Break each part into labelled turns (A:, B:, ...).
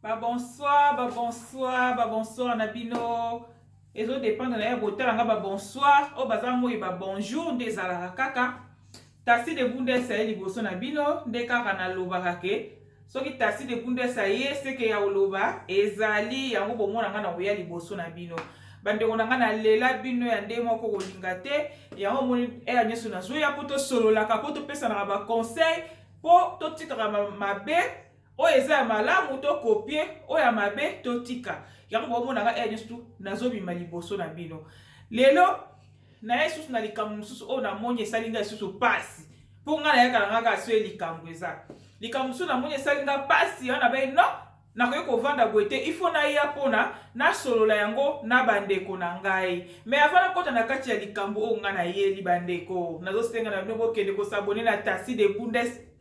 A: Ba bonsoir, ba bonsoir, ba bonsoir na bino. Ezo dépendre na ya botala nga ba bonsoir, o baza moi ba bonjour nde ezalaka kaka. Tasi de Bundes aye liboso na bino nde kaka na lobaka ke soki Tasi de Bundes aye seke ya oloba ezali yango bomona nga na koya liboso na bino. Bandeko na nga na lela bino ya nde moko kolinga te, yango moni eya nyoso na zoya po tosololaka po topesanaka ba conseil po totikaka mabe Oyo eza ya malamu to copier, oyo ya mabe to tika. Yango bomona nga heure nyoso nazo bima liboso na bino. Lelo naye susu na likambo mosusu oyo namoni esali nga susu pasi. Po nga nayaka na nga kaka soye likambo eza. Likambo mosusu namoni esali nga pasi, wana be non, nakoki kovanda boye te, il faut naya pona nasolola yango na bandeko na ngai. Mais avant nakota na kati ya likambo oyo nga nayeli bandeko, nazo senga na bino bokende ko s'abonner na Tassy de Bundes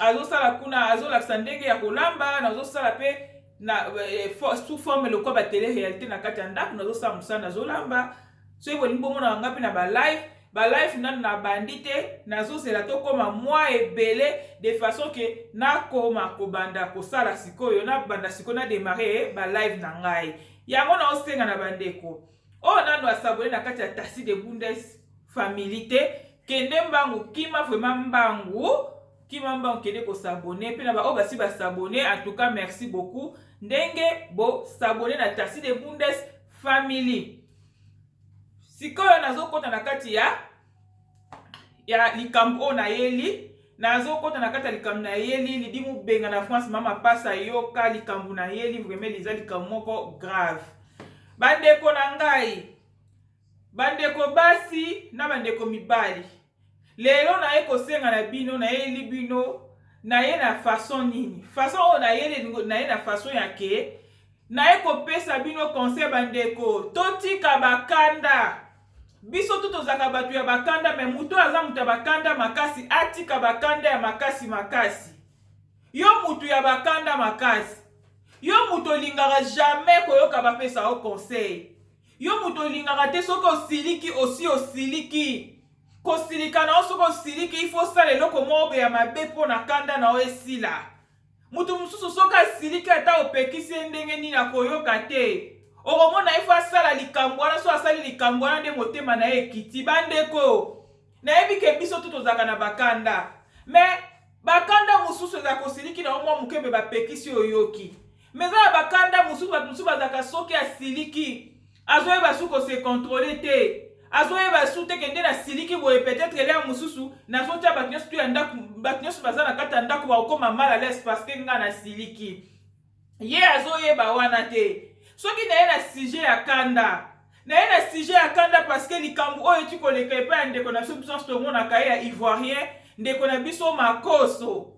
A: azosala kuna azolakisa ndenge ya kolamba nazosala mpe na eh, sous forme lokola batele réalité na kati ya ndako nazosala mosala nazolamba soki bolingi bomonaka ngai mpe na balive balive nanu nabandi te nazozela tokóma mwa ebele de façon ke nakoma kobanda kosala sikoyo nabanda sikoyo na démarre balive na ngai yango naosenga na bandeko oyo oh, nano asabone na kati ya tasi de bundes family te kende mbangu kima vrema mbangu kima mbangu kende kosabone mpe na baoyo basi basabone en tout cas merci beaucoup ndenge bosabone na tasi de bundes family sikoyo nazokɔta na kati ya ya likambo oyo nayeli nazokota na kati ya likambo nayeli lidi mobenga na france mama pasa yoka likambo nayeli vraimen liza likambo moko grave bandeko na ngai bandeko basi na bandeko mibali lelo naye kosenga na bino nayeli bino naye na fason nini fason oyo nayeli naye na fason ya ke naye kopesa bino conseil bandeko totika bakanda Biso tout tozalaka batu ya bakanda mais mutu aza mutu ya bakanda makasi atika bakanda ya makasi makasi. Yo mutu ya bakanda makasi. Yo mutu olingaka jamais koyoka bapesa yo conseil. Yo mutu olingaka te soki osiliki osi osiliki. Kosilika na yo soki osiliki il faut osala eloko moko ya mabe mpo na kanda na yo esila. Moto mosusu soki asiliki ata opekisi ye ndenge nini akoyoka te. Okomona ye fo asala likambo wana, so asali likambo wana nde motema na ye ekiti. Bandeko, nayebi ke biso tout tozalaka na bakanda. Mais bakanda mosusu ezalaka osiliki na yo mwa moke mais bapekisi yo oyoki. Mais eza na bakanda mosusu bato mosusu bazalaka soki asiliki azoyeba su ko se controle te azoyeba su te kende na siliki boye peut-être lia mosusu nazotya bato nyonso tu ya ndako bato nyonso baza na kati ya ndako bakokoma mal à l'aise parce que nga na siliki ye azoyeba wana te soki naye na sujet ya kanda naye na sujet ya kanda parce que likambo oyo eti koleka epai ya ndeko na biso biso nyonso tomonaka ye ya ivoirien ndeko na biso makoso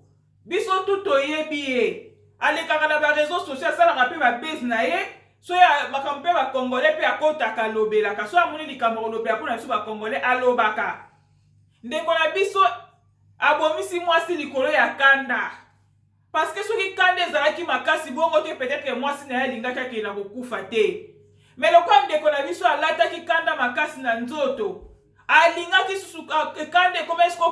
A: Biso tout toyebi ye. Alekaka na ba reseaux sociaux asalaka pe ba buzz na ye. So ya makambo pe ba congolais pe akotaka alobelaka. So amoni likambo kolobela pona biso ba congolais alobaka. Ndeko na biso abomisi mwasi likolo ya kanda. Parce que soki kanda ezalaki makasi bongo te peut-être mwasi na ye alingaki akenda kokufa te. Mais lokola ndeko na biso alataki kanda makasi na nzoto, alingaki susu kanda ekomaki sikoyo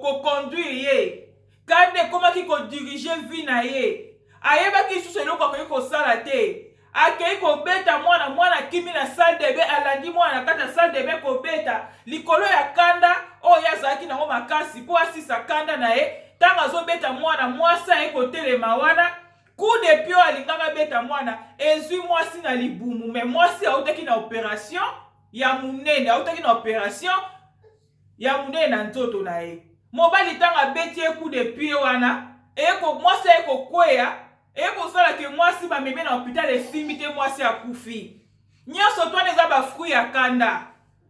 A: koconduire ye kanda ekomaki kodirige vie na ye ayebaki lisusu eloko akoki kosala te akei kobeta mwana mwana akimi na salle de bain alandi mwana na kati ya salle de bain kobeta likolo ya kanda oyo ye azalaki nango makasi mpo asisa kanda na ye ntango azobeta mwana mwasi aye kotelema wana coup de pio alingaka beta mwana ezwi mwasi na libumu me mwasi autaki na operation ya munene autaki na operation ya munene na nzoto na ye mobali ntango abeti ye coup de pied wana eko mwasi aye kokweya eye kosala ke mwasi bameme na hopital esimbi te mwasi akufi nyonso twana eza bafruit ya kanda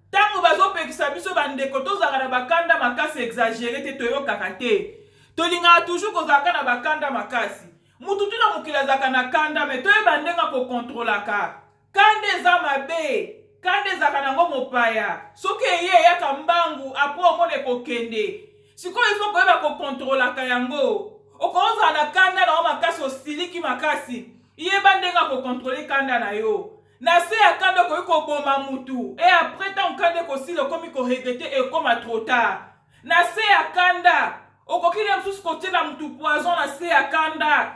A: ntango bazopekisa biso bandeko tozalaka na bakanda makasi exagere te toyokaka te tolingaka toujours kozalaka na bakanda makasi motu tuna mokili azalaka na kanda me toyeba ndenge akokontrolaka Kanda eza mabe kanda ezalaka nango mopaya soki eye eyaka mbangu apres omona ekokende sikoyo il faut koyeba ko controlaka yango okozala na kanda na yo makasi osiliki makasi yeba ndenge ya ko controle kanda na yo na se ya kanda okoki koboma mutu e apres ntango kanda ekosila okomi ko regrete ekoma trop tard na se ya kanda okoki na mosusu kotiela mutu poison na se ya kanda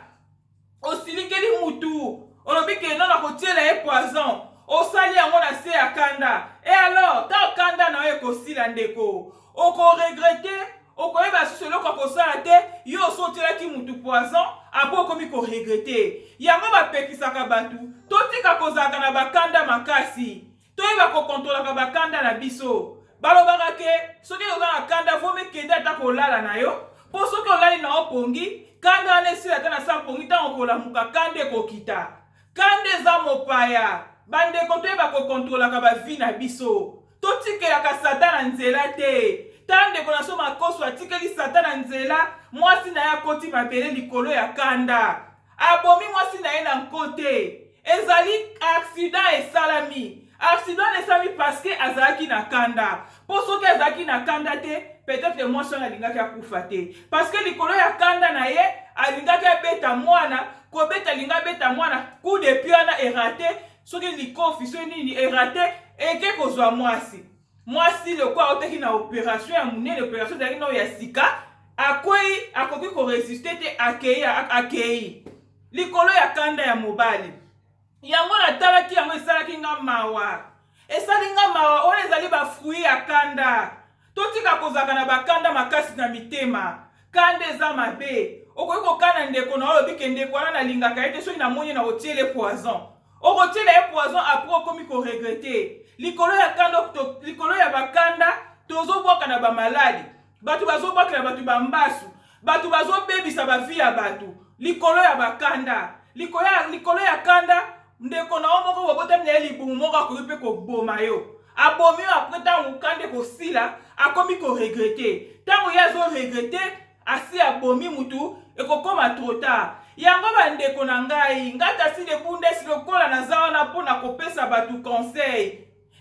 A: osilikeli mutu olobi ke non nakotiela ye poison osali yango na se ya kanda e alors ta kanda na yo ekosila ndeko okoregrete okoyeba susu eloko ya kosala te yo osi otielaki mutu poison apres okomi koregrete yango bapekisaka bato totika kozalaka na bakanda makasi toyeba kokontolaka bakanda na biso balobaka ke soki oza na kanda vomi kende ata kolala na yo mpo soki olali na opongi kanda wana esila ata na sa mpongi ntango kolamuka kanda ekokita kanda eza mopaya bandeko toyeba kokontolaka bavi na biso totikelaka satana nzela te tala ndeko na so makoso atikeli satana nzela mwasi na ye akoti mabele likolo ya kanda Abomi mwasi na ye na nko te. Ezali accident esalami. Accident wana esalami parce que azalaki na kanda. Mpo soki azalaki na kanda te, peut-être mwasi wana alingaki akufa te. Parce que likolo ya kanda na ye, alingaki abeta mwana, kobeta alinga abeta mwana, coup de pied wana erate, soki likofi, soki nini erate, eke kozwa mwasi. Mwasi lokola autaki na operation ya monene, operation ezalaki nao ya sika, akwei, akoki koresiste te, akei, akei likolo ya kanda ya mobali. Yango natalaki yango, esalaki nga mawa, esali nga mawa. Oyo ezali bafrui ya kanda. Totika kozalaka na bakanda makasi na mitema. Kanda eza mabe. Okoki kokana ndeko na oyo olobi ke ndeko wana nalingaka ye te, soki namoni nakotiele poison. Okotiela ye poison après okomi ko regrette. Likolo ya kanda likolo ya bakanda tozobwaka na bamaladi. Bato bazobwakela bato bambasu. Bato bazobebisa bavi ya bato likolo ya bakanda. Likolo ya, likolo ya kanda ndeko na yo moko bobotami na ye libumu moko akoki mpe koboma yo. Abomi yo apres ntango kanda ekosila akomi ko regrette. Ntango ye azo regrette asi abomi mutu ekokoma trop tard yango ba ndeko na ngai nga tasi de bundes lokola naza wana mpo na kopesa batu conseil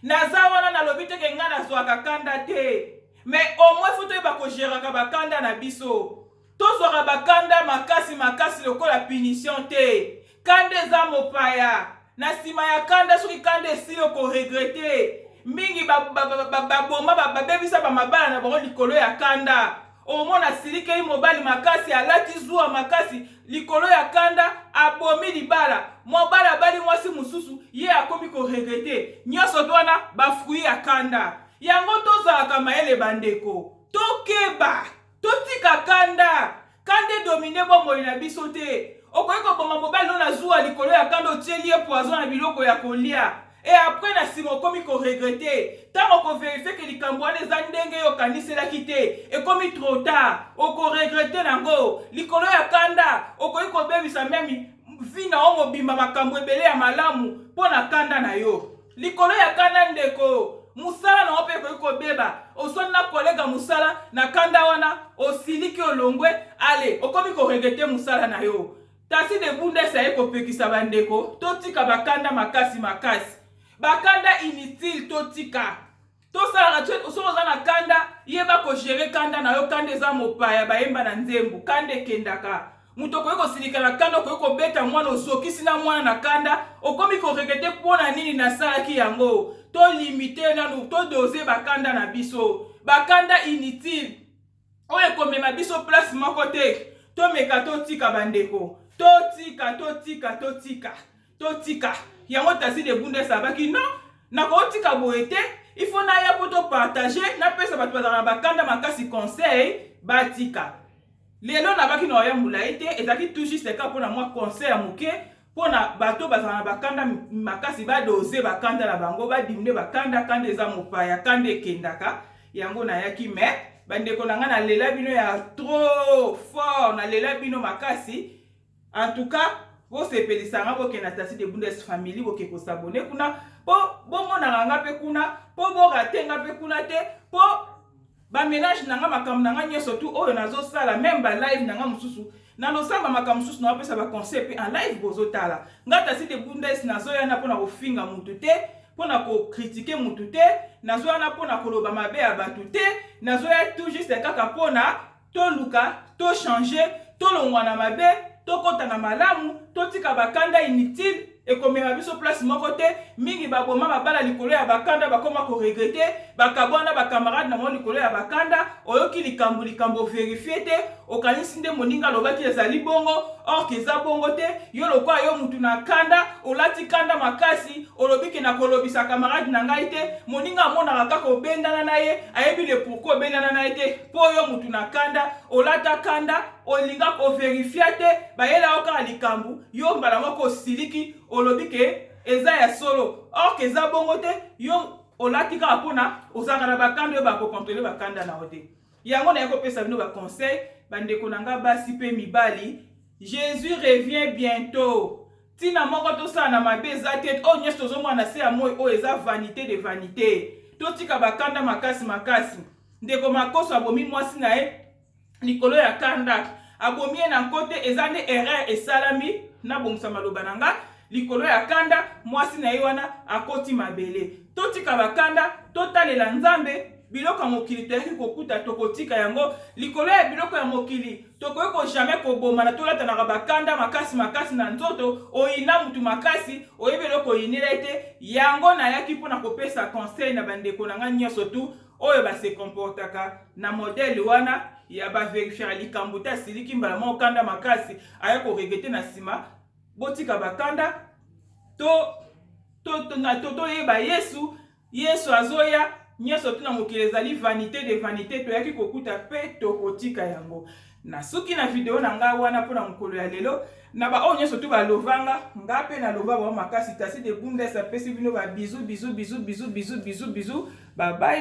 A: naza wana nalobi te ke nga nazwaka kanda te mais au moins fo toyeba kogeraka bakanda na biso tozwaka bakanda makasi makasi lokola punition te Kanda eza mopaya. Na nsima ya kanda, soki kanda esili, okoregrete mingi. Baboma, babebisa bamabala na bango likolo ya kanda. Omona asilikeli mobali makasi, alati zuwa makasi likolo ya kanda, abomi libala. Mobali abali mwasi mosusu, ye akomi koregrete. Nyonso to wana bafruit ya kanda. Yango tozalaka mayele, bandeko, tokeba. Totika kanda. Kanda edomine bomoi na biso te. Okoki koboma mobali no na zuwa likolo ya kanda otieli ye poison na biloko ya kolia et après na sima okomi ko regrette tango oko verifie que likambo wana eza ndenge yo okaniselaki te ekomi trop tard oko regrette nango likolo ya kanda okoki kobebisa meme vie na yo mobimba makambo ebele ya malamu mpo na kanda na yo. likolo ya kanda ndeko mosala na yo mpe ekoki kobeba oswani na kolega mosala na kanda wana osiliki olongwe ale okomi koregete mosala na yo tasi de bundes aye kopekisa bandeko totika bakanda makasi makasi bakanda inutile totika tosalaka soki oza na kanda yeba kogere kanda na yo kanda eza mopaya bayemba na nzembo kanda ekendaka moto okoki kosilika na kanda okoki kobeta mwana ozokisi na mwana na kanda okomi koregrete mpo na nini nasalaki yango tolimite nanu todose bakanda na biso bakanda inutile oyo ekomema biso place moko te tomeka totika bandeko totika totika totika totika yango tasi de bundes abaki non nakotika boye te il faut naya mpo topartage napesa bato bazala na bakanda makasi conseil batika lelo nabaki na oya molai te ezalaki tout juste kaka mpo na mwa conseil ya moke mpo na bato bazala na bakanda makasi badose bakanda na bango badimine bakanda kanda eza mopaya kanda ekendaka yango nayaki me bandeko na ngai nalela bino ya trop fort nalela bino makasi en tout cas bosepelisa ngai bokenda tasi de bundes family boke kosabone kuna mpo bomonaka ngai mpe kuna mpo borate ngai mpe kuna te mpo Ba menage na nga makambo na nga nyoso tout oyo nazo sala meme ba live na nga mususu na losamba makambo mususu na opesa ba conseil pe en live bozo tala nga tasi de bundes nazo yana pona kofinga mutu te pona ko critiquer mutu te nazo yana pona koloba mabe ya batu te nazo ya tout juste kaka pona toluka to changer tolongwa na mabe tokota na malamu totika bakanda inutile ekomema biso place moko te mingi baboma babala likolo ya bakanda bakoma koregrete bakabwana na bakamarade na bango likolo ya bakanda oyoki likambo likambo verifie te okanisi nde moninga alobaki ezali bongo orke eza bongo te yo lokola yo mutu na kanda olati kanda makasi olobi ke nakolobisa kamarade na ngai te moninga amonaka kaka obendana na ye ayebi le pourkui obendana na ye te mpo yo mutu na kanda olata kanda olinga ko verifia te bayela yo kaka likambu yo mbala moko osiliki olobi ke eza ya solo or ke eza bongo te yo olati kaka pona ozalaka na bakanda yo bako controle bakanda na yo te yango naye kopesa bino ba conseil bandeko na nga basi pe mibali jesus revient bientot ntina moko tosala na mabe eza te oyo oh, nyonso tozomona na se ya moi oyo oh, eza vanité de vanité totika bakanda makasi makasi ndeko makoso abomi mwasi na ye likolo ya Karnak abomi ye na nko te eza nde erreur esalami nabongisa maloba na nga likolo ya kanda mwasi na ye wana akoti mabele totika bakanda totalela nzambe biloko ya mokili toyaki kokuta tokotika yango likolo ya biloko ya mokili tokoki ko jamais kobomana tolatanaka bakanda makasi makasi na nzoto oyina motu makasi oyebi eloko oyinela ye te yango nayaki mpo na kopesa conseil na bandeko na ngai nyonso tu oyo ba se comportaka na modèle wana ya ba verifiaka likambo te asiliki mbala moko kanda makasi aya koregete na nsima botika bakanda to toyeba to, to, to yesu yesu azoya nyonso tuna mokili ezali vanité de vanité toyaki kokuta mpe tokotika yango nasuki na video na ngai wana mpo na mokolo ya lelo na baoyo nyonso tu balovanga ngai mpe naloba bango makasi tasi de bundes apesi bino babizu bizu bizu bizu bizu bizu bizu babai